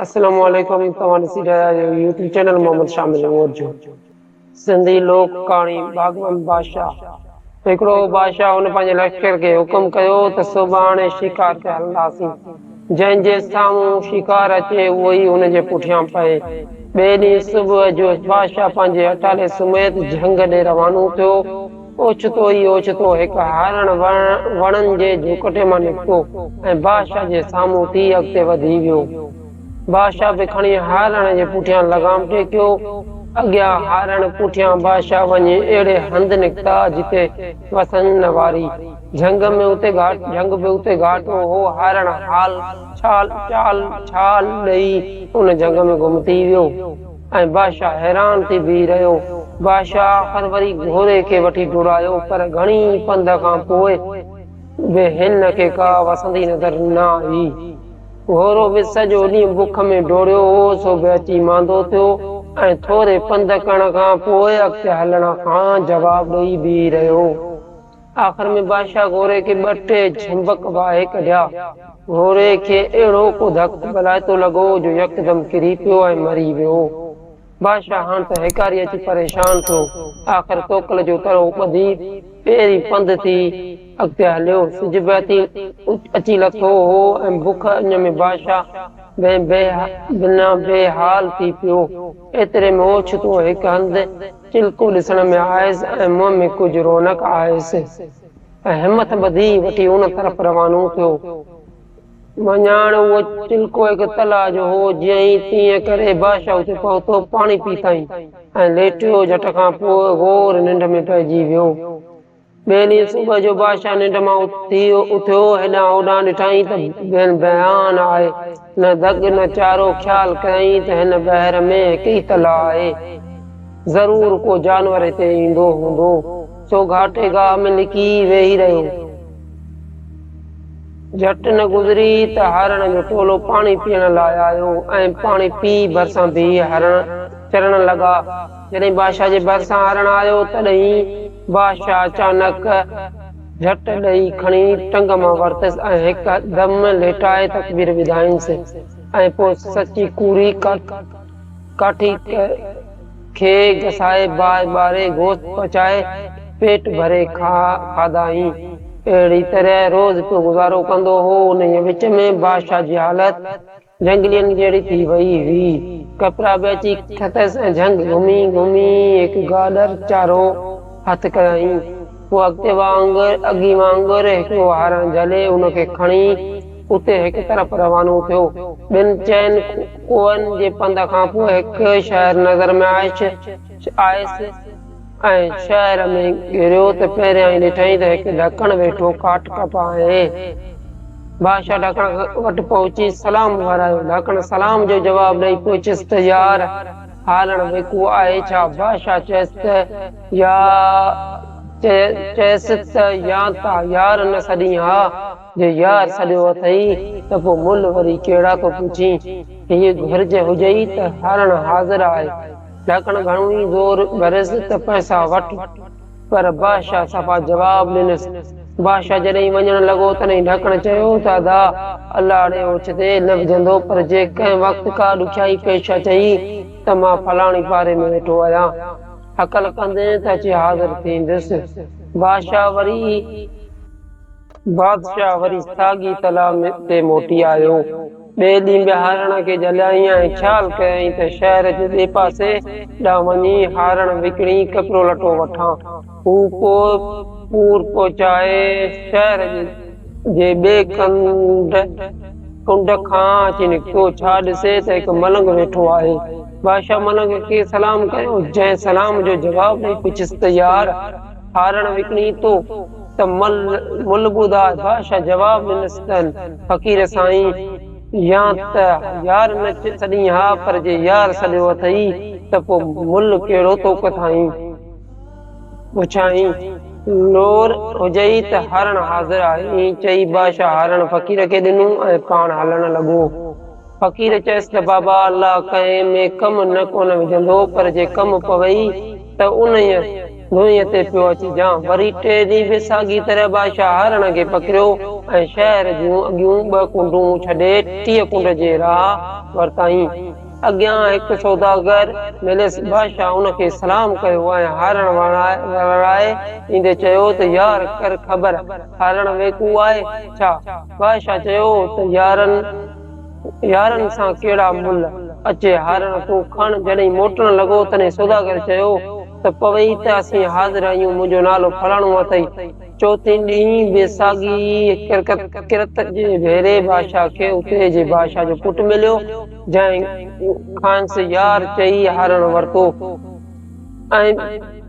اسلام عليڪم توهان ڏسي رهيا آهيو يوٽيوب چينل محمد شامل عمر جو سنڌي لوڪ ڪهاڻي باغبان بادشاهه هڪڙو هو بادشاهه هن پنهنجي لشڪر کي حڪم ڪيو ته سڀاڻي شڪار تي هلنداسين جنهن جي سامهون شڪار اچي اهو ئي هن جي پٺيان پئي ٻئي ڏينهن صبح جو بادشاهه پنهنجي اٽالي سميت جهنگ ڏي روانو ٿيو اوچتو ئي اوچتو هڪ هارڻ وڻن جي جهوڪٽي مان نڪتو ۽ بادشاهه جي سامهون ٿي اڳتي وڌي ويو. بادشاهه به کڻي هارڻ جي پٺيان لغام ٽيڪيو. اڳيان هارڻ پٺيان بادشاهه وڃي اهڙي هنڌ نڪتا جتي وسن نه واري جهنگ ۾ اتي گهاٽ جهنگ به اتي گهاٽو هو. هارڻ هال ڇال چال ڇال ڏئي ان جهنگ ۾ گم ٿي ويو. ۽ بادشاهه حيران ٿي بيهي رهيو. بادشاهه آخر وري گهوڙي کي وٺي ڊوڙايو پر گهڻي پنڌ کان پوء به هن کي ڪا وسندي نظر نه آئي. گهوڙو به سڄو ڏينهن بک ۾ ڊوڙيو هو سو به اچي ماندو ٿيو ۽ ٿوري پنڌ ڪرڻ کان پوء اڳتي هلڻ کان جواب ڏئي بيهي رهيو. آخر ۾ بادشاهه گهوڙي کي ٻه ٽي جهمبڪ واهي ڪڍيا. گهوڙي کي اهڙو ڪو ڌڪ ڀلائتو لڳو جو يڪدم ڪري پيو ۽ مري ويو. بادشاهه هاڻ ته هيڪاري اچي پريشان ٿيو. آخر توڪل جو ترو ٻڌي پيرين پنڌ ٿي اڳتي هليو. سج بهتين اچي لٿو هو ۽ بک اڃ ۾ بادشاهه بنهه بنا بي حال ٿي پيو. ايتري ۾ اوڇتو هڪ هنڌ چلڪو ڏسڻ ۾ آيس ۽ منهن ۾ ڪجهه رونق آيس ته همٿ ٻڌي وٺي ان طرف روانو ٿيو. مڃاڻ اهو چلڪو هڪ تلاء جو هو، جيئن ئي تيئن ڪري بادشاهه اتي پهتو، پاڻي پيتائين ۽ ليٽيو، جهٽ کان پوء گهور ننڊ ۾ پئجي ويو. ٻئي ڏينهن صبح جو بادشاهه ننڊ مان اٿي اٿيو، هيڏانهن هوڏانهن ڏٺائين ته بين بيان آهي، نه دڳ نه چارو، خيال ڪيائين ته هن بحر ۾ هڪ ئي تلاء آهي، ضرور ڪو جانور هتي ايندو هوندو، سو گهاٽي گاهه ۾ لڪي ويهي رهيو. جهٽ نه گذري ته هارڻ جو ٽولو پاڻي پيئڻ لاء آيو ۽ پاڻي پي ڀرسان بيهي هارڻ چرڻ لڳا. جڏهن بادشاهه جي ڀرسان هرڻ آيو، تڏهين بادشاهه اچانڪ جهٽ ڏئي کڻي ٽنگ مان ورتس ۽ هڪ دم ليٽائي تڪبير ٻڌائينس ۽ پوء سچي ڪوڙي ڪاٺي کي گسائي باهه ٻاري گوشت پچائي پيٽ ڀري کاڌائين. اهڙي طرح روز پيو گذارو ڪندو هو. انهيء وچ ۾ بادشاهه جي حالت جهنگلين جهڙي ٿي وئي هئي. ڪپرا به اچي کتس ۽ جهنگ گهمي گهمي هڪ گاڏر چارو هٿ ڪيائين. هو اڳتي وانگر اڳي وانگر هڪڙو هارڻ جهلي ان کي کڻي اتي هڪ طرف روانو ٿيو. ٻن چئن ڪوهن جي پنڌ کان پوء هڪ شهر نظر ۾ آيس. ۽ شهر ۾ گهريو ته پهريائين ڏٺائين ته هڪ ڍڪڻ ويٺو ڪاٺ ڪپا آهي. بادشاهه ڍڪڻ وٽ پهچي سلام ورايو. ڍڪڻ سلام جو جواب ڏئي پڇيس ته يار هالڻ ويڪو آهي ڇا؟ بادشاهه چيس ته يا چيس ته يا ته يار نه سڏين ها. جو يار سڏيو اٿئي ته پوء مل وري ڪهڙا ڪو پڇين. هيء گهرج هجئي ته هارڻ حاضر آهي. ڍڪڻ گهڻو ئي زور ڀريس ته پئسا وٺ. پر بادشاهه صفا جواب ڏنس. بادشاهه جڏهن وڃڻ لڳو تڏهن ڍڪڻ چيو ته ادا! الاڙي اوچتي نه وجهندو پر جي ڪنهن وقت ڪا ڏکيائي پيش اچئي ته مان فلاڻي پاري ۾ ويٺو آهيان. هڪل ڪندين ته اچي حاضر ٿيندس. بادشاهه وري. بادشاهه وري ساڳي تلاء تي موٽي آيو. ٻئي ڏينهن به هارڻ کي جهليائين ۽ خيال ڪيائين ته شهر جي ٻئي پاسي ڏانهن وڃي هارڻ وڪڻي ڪپڙو لٽو وٺان. هو پوء پور پهچائي شهر جي ٻئي ڪنڊ کان اچي نڪتو. ڇا ڏسي ته هڪ ملنگ ويٺو آهي. بادشاهه ملنگ کي سلام ڪيو، جنهن سلام جو جواب ڏئي پڇيس ته يار! هارڻ وڪڻي تو ته مل مل ٻڌاء. بادشاهه جواب ڏنس ته فقير سائين يا ته يار نه سڏين ها پر جي يار سڏيو اٿئي ته پو مل ڪهڙو تو ڪٿائين. پڇائين لور هجئي ته هارڻ حاضر آهي. ائين چئي بادشاهه هارڻ فقير کي ڏنو ۽ پاڻ هلڻ لڳو. فقير چيس ته بابا الله ڪنهن ۾ ڪم نه ڪونه وجهندو پر جي ڪم پوي ته انهيء ڌوئينء تي پيو اچجان. وري ٽئين ڏينهن به ساڳي طرح بادشاهه هرڻ کي پڪڙيو ۽ شهر جون اڳيون ٻه ڪنڊون ڇڏي ٽيء ڪنڊ جي راهه ورتائين. اڳيان هڪ سوداگر مليس، بادشاهه ان کي سلام ڪيو ۽ هارڻ وراء ايندي چيو ته يار ڪر خبر هارڻ ويڪو آهي ڇا؟ بادشاهه چيو ته يارن! يارن سان ڪهڙا ملهه، اچي هارڻ تون کڻ. جڏهن موٽڻ لڳو، تڏهن سوداگر چيو ته پوي ته اسين حاضر آهيون، منهنجو نالو فلاڻو اٿئي. چوٿين ڏينهن به ساڳي ڪرت جي ڀيري بادشاهه کي اتري جي بادشاهه جو پٽ مليو، جنهن کانئس يار چئي هارڻ ورتو. ۽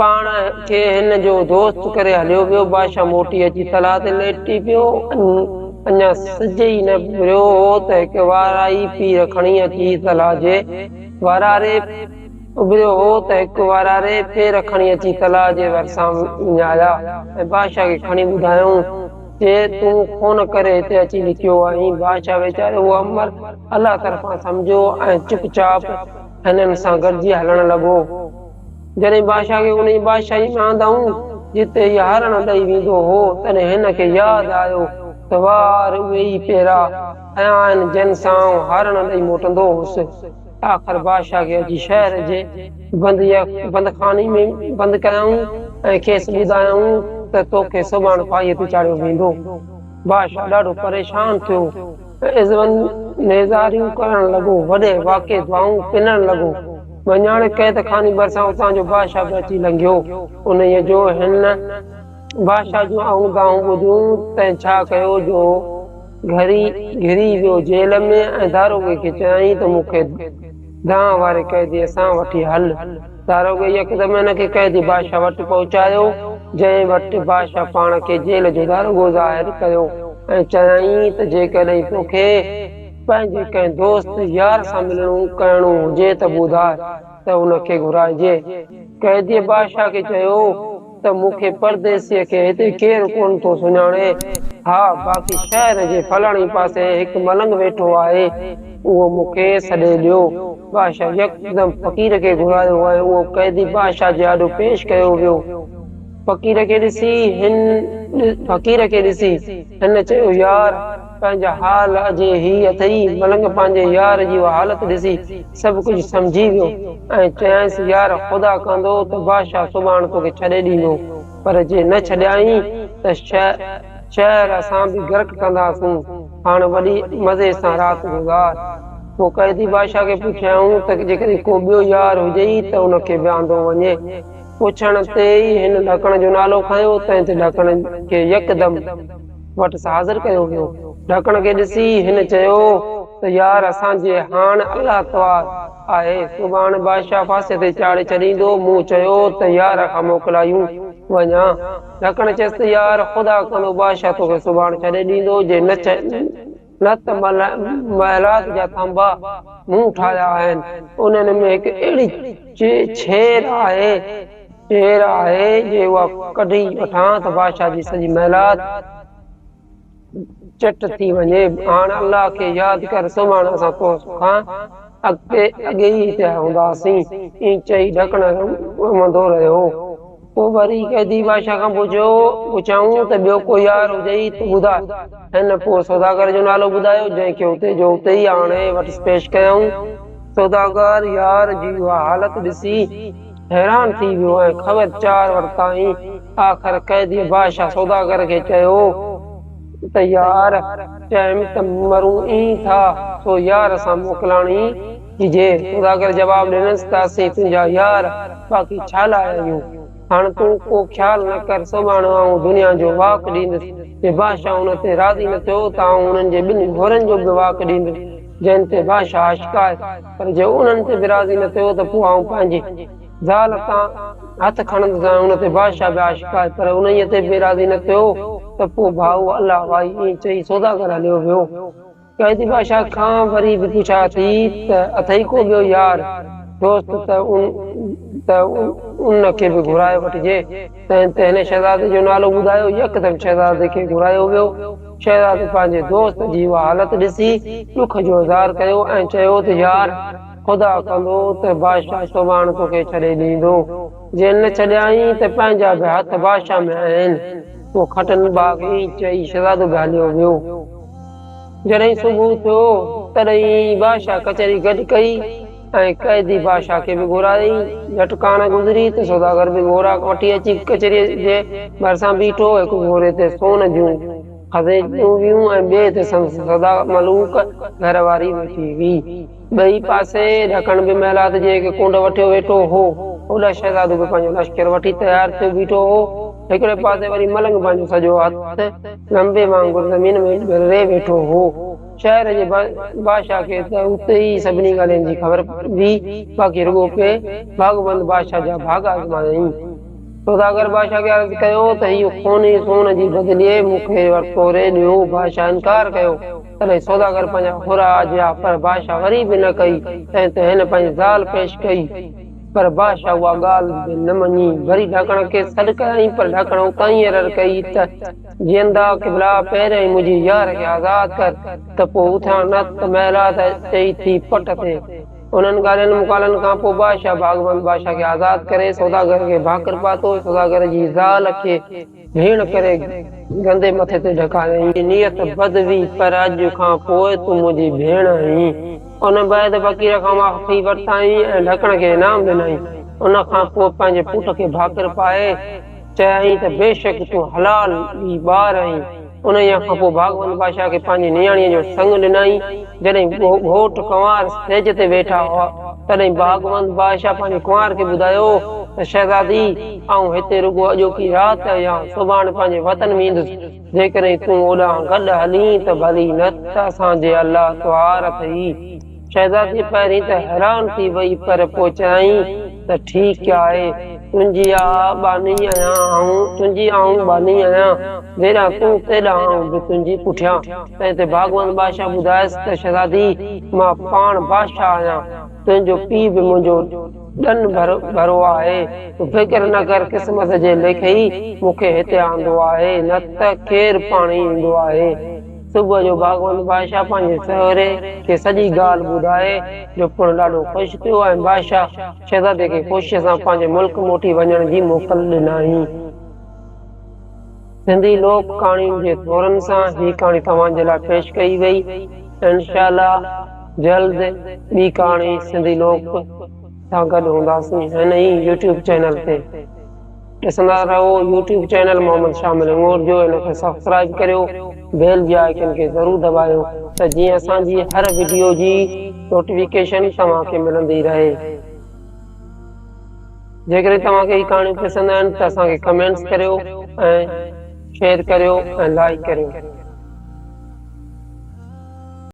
پاڻ کي هن جو دوست ڪري هليو ويو. بادشاهه موٽي اچي تلاء تي ليٽي پيو. اڃا سج ئي نه ڀريو هو ته هڪ وارائي پير کڻي اچي تلاء جي وراري اڀريو هو ته هڪ واراري پير کڻي اچي تلاء جي ڀرسان وڃايا ۽ بادشاهه کي کڻي ٻڌايائون چي تون خون ڪري هتي اچي لڪيو آهين. بادشاهه ويچاري اهو امر الله طرفان سمجهيو ۽ چپ چاپ هنن سان گڏجي هلڻ لڳو. جڏهن بادشاهه کي ان جي بادشاهي ۾ آندائون، جتي هي هارڻ ڏئي ويندو هو، تڏهن هن کي ياد آيو ته وار اهي ئي پيرا ۽ آهن جن سان آئون هارڻ ڏئي موٽندو هوس. آخر بادشاهه کي اچي شهر جي بندخاني ۾ بند ڪيائون ۽ کيس ٻڌايائون ته توکي سڀاڻ ڦاهيء تي چاڙهيو ويندو. بادشاهه ڏاڍو پريشان ٿيو. عزوان نيزاريون ڪرڻ لڳو، وڏي واڪي دعائون پنڻ لڳو. ڀڃاڻي قيد خاني ڀرسان اتان جو بادشاهه به اچي لنگهيو. انهيء جو هن بادشاهه جون آهون دانهون ٻڌيون، تنهن ڇا ڪيو جو گهري گهري ويو جيل ۾ ۽ داروغي کي چيائين ته مون کي گانهن واري قيدي سان وٺي هل. داروغي يڪدم هن کي قيدي بادشاهه وٽ پهچايو، جنهن وٽ بادشاهه پاڻ کي جيل جو داروغو ظاهر ڪيو ۽ چيائين ته جيڪڏهن توکي پنهنجي ڪنهن دوست يار سان ملڻو ڪهڻو هجي ته ٻڌاء ته ان کي گهرائجي. قيديء بادشاهه کي چيو ته مون کي پرديسيء کي هتي ڪير ڪونه ٿو سڃاڻي. ها، باقي شهر جي فلاڻي پاسي هڪ ملنگ ويٺو آهي، اهو مون کي سڏي ڏيو. بادشاهه يڪدم فقير کي گهرايو ۽ اهو قيدي بادشاهه جي آڏو پيش ڪيو ويو. فقير کي ڏسي هن فقير کي ڏسي هن چيو، يار! پنهنجا حال اجهي هي اٿئي. ملنگ پنهنجي يار جي اها حالت ڏسي سڀ ڪجهه سمجهي ويو ۽ چيائينس، يار خدا ڪندو ته بادشاهه سڀاڻ توکي ڇڏي ڏيندو، پر جي نه ڇڏيائين ته شهر اسان به غرق ڪنداسون، هاڻ وڏي مزي سان رات گذار. پوء قيدي بادشاهه کي پڇيائون ته جيڪڏهن ڪو ٻيو يار هجئي ته ان کي به آندو وڃي. پڇڻ تي ئي هن ڏاڪڻ جو نالو کنيو تنهن تي ڏاڪڻ کي يڪدم. وٽس حاضر ڪيو ويو. ڍڪڻ کي ڏسي هن چيو ته يار اسان جي هاڻ الله توار آهي سڀاڻ بادشاهه ڦاسي تي چاڙهي ڇڏيندو مون چيو ته يار کان موڪلايون وڃان ڍڪڻ چيس ته يار خدا ڪندو بادشاهه توکي سڀاڻ ڇڏي ڏيندو جي نه نه ته محلات جا ٿانڀا مون ٺاهيا آهن، انهن ۾ هڪ اهڙي ڇير آهي ڇير آهي جي اها ڪڍي وٺان ته بادشاهه جي سڄي محلات چٽ ٿي وڃي، هاڻ الله کي ياد ڪر سومهاڻ اسان تو کان اڳتي اڳيئي پيا هونداسين. ائين چئي ڍڪڻ امندو رهيو. پوء وري قيدي بادشاهه کان پڇيو، پڇيائون ته ٻيو ڪو يار هجئي ته ٻڌاء. هن پوء سوداگر جو نالو ٻڌايو، جنهن کي اتي جو اتي ئي آڻي وٽس پيش ڪيائون. سوداگر يار جي اها حالت ڏسي حيران ٿي ويو ۽ خبر چار ورتائين. آخر قيدي بادشاهه سوداگر کي چيو ته يار چيم ته مرون ئي ٿا، سو يار سان موڪلاڻي جي سوداگر جواب ڏنس ته اسين تنهنجا يار باقي ڇا لاء آهيون؟ هاڻ تون ڪو خيال نه ڪر، سڀاڻ آئون دنيا جو واڪ ڏيندس. جي بادشاهه ان تي راضي نه ٿيو ته آئون انهن جي ٻن گهوڙن جو به واڪ ڏيندس جن تي بادشاهه عاشق آهي، پر جي انهن تي به راضي نه ٿيو ته پوء آئون پنهنجي زال تان هٿ کڻندس ۽ ان تي بادشاهه به عاشق آهي، پر انهيء تي به راضي نه ٿيو ته پوء ڀائو الله وائي. ائين چئي سوداگر هليو ويو. قائدي بادشاهه کان وري به پڇا ٿي ته اٿئي ڪو ٻيو يار، دوست ته ان ته ان کي به گهرائي وٺجي. تنهن تي هن شهزادي جو نالو ٻڌايو. يڪدم شهزادي کي گهرايو ويو. شهزادي پنهنجي دوست جي اها حالت ڏسي ڏک جو اظهار ڪيو ۽ چيو ته يار! خدا ڪندو ته بادشاهه سڀاڻ توکي ڇڏي ڏيندو. جي نه ڇڏيائين ته پنهنجا به هٿ بادشاهه ۾ آهن. پوء کٽن ٻاگهين چئي شهزادو به هليو ويو. جڏهن صبح ٿيو، تڏهن ئي بادشاهه ڪچهري گڏ ڪئي ۽ قيدي بادشاهه کي به گهرائي. جهٽ ڪانه گذري ته سوداگر به گهوڙا وٺي اچي ڪچهريء جي ڀرسان بيٺو. هڪ گهوڙي تي سون جون خزينچيون هيون ۽ ٻئي تي سندس سدا ملوڪ گهر واري ويٺي هئي. ٻئي پاسي ڍڪڻ به محلات جي هڪ ڪنڊ وٺيو ويٺو هو. هوڏا شهزادو به پنهنجو لشڪر وٺي تيار ٿيو بيٺو هو. هڪڙي پاسي وري ملنگ پنهنجو سڄو هٿ لنبي وانگر زمين ۾ ڳرڙي ويٺو هو. شهر جي بادشاهه کي ته اتي ئي سڀني ڳالهين جي خبر هئي، باقي رڳو پئي ڀاڳوند بادشاهه جا ڀاڳ آزمايائين. سوداگر بادشاهه کي عرض ڪيو ته هيء خوني سون جي بدلي مون کي ورتو ري ڏيو. بادشاهه انڪار ڪيو. تڏهن سوداگر پنهنجا حرا آجيا، پر بادشاهه وري به نه ڪئي، تنهن تي هن پنهنجي زال پيش ڪئي، پر بادشاهه اها ڳالهه به نه مڃي، وري ڍاڪڻ کي سڏ ڪيائين، پر ڍاڪڻ اتان ئي عرر ڪئي ته، جيئندا قبلا، پهريائين منهنجي يار کي آزاد ڪر، ته پوء اٿان نه ته محلات چئي ٿي پٽ تي. انهن ڳالهين مقالن کان پوء بادشاهه ڀاڳوند بادشاهه کي آزاد ڪري، سوداگر کي ڀاڪر پاتو، سوداگر جي زال کي. ڀيڻ ڪري گندي مٿي تي ڍڪايو هئين نيت بد هئي پر اڄ کان پوء تون منهنجي ڀيڻ آهين ان بعد فقير کان معافي ورتائين ۽ ڍڪڻ کي انعام ڏنائين ان کان پوء پنهنجي پٽ کي ڀاڪر پائي چيائين ته بيشڪ تون حلال ئي ٻار آهين انهيء کان پوء ڀاڳوند بادشاهه کي پنهنجي نياڻيء جو سڱ ڏنائين. جڏهن گهوٽ ڪنوار سيج تي ويٺا هئا، تڏهن ڀاڳوند بادشاهه پنهنجي ڪنوار کي ٻڌايو ته شهزادي، آئون هتي رڳو اڄوڪي رات يا سڀاڻ پنهنجي وطن ويندس. جيڪڏهن تون اوڏانهن گڏ هلين ته ڀلي نه ته اسان جي الله تهوار اٿئي. شهزادي پهرين ته حيران ٿي وئي پر پوء چيائين ته ٺيڪ آهي، تنهنجي آء ٻانهي آهيان، آئون تنهنجي آئون ٻانهي آهيان، جيڏانهن تون تيڏانهن آئون به تنهنجي پٺيان. تنهن تي ڀاڳوند بادشاهه ٻڌايس ته شهزادي مان پاڻ بادشاهه آهيان، تنهنجو پيء به منهنجو ڏن ڀرو آهي، تون فڪر نه ڪر، قسمت جي ليکئي مون کي هتي آندو آهي، نه ته کير پاڻهي ايندو آهي. صبح جو ڀاڳوند بادشاهه پنهنجي سهري کي سڄي ڳالهه ٻڌائي، جو پڻ ڏاڍو خوش ٿيو ۽ بادشاهه شهزادي کي خوشيء سان پنهنجي ملڪ موٽي وڃڻ جي موڪل ڏنائين. سنڌي لوڪ ڪهاڻين جي ٿورن سان هي ڪهاڻي توهان جي لاء پيش ڪئي وئي. انشاء الله جلد ٻي ڪهاڻي سنڌي لوڪ سان گڏ هونداسين هن ئي يوٽيوب چينل تي. ڏسندا رهو يوٽيوب چينل محمد شاهه ملنگور جو ان کي سبسڪرائيب ڪريو بيل جي آئيڪن کي ضرور دٻايو ته جيئن اسان جي هر وڊيو جي نوٽيفڪيشن توهان کي ملندي رهي جيڪڏهن توهان کي هي ڪهاڻيون پسند آهن ته اسان کي ڪمينٽس ڪريو ۽ شيئر ڪريو ۽ لائيڪ ڪريو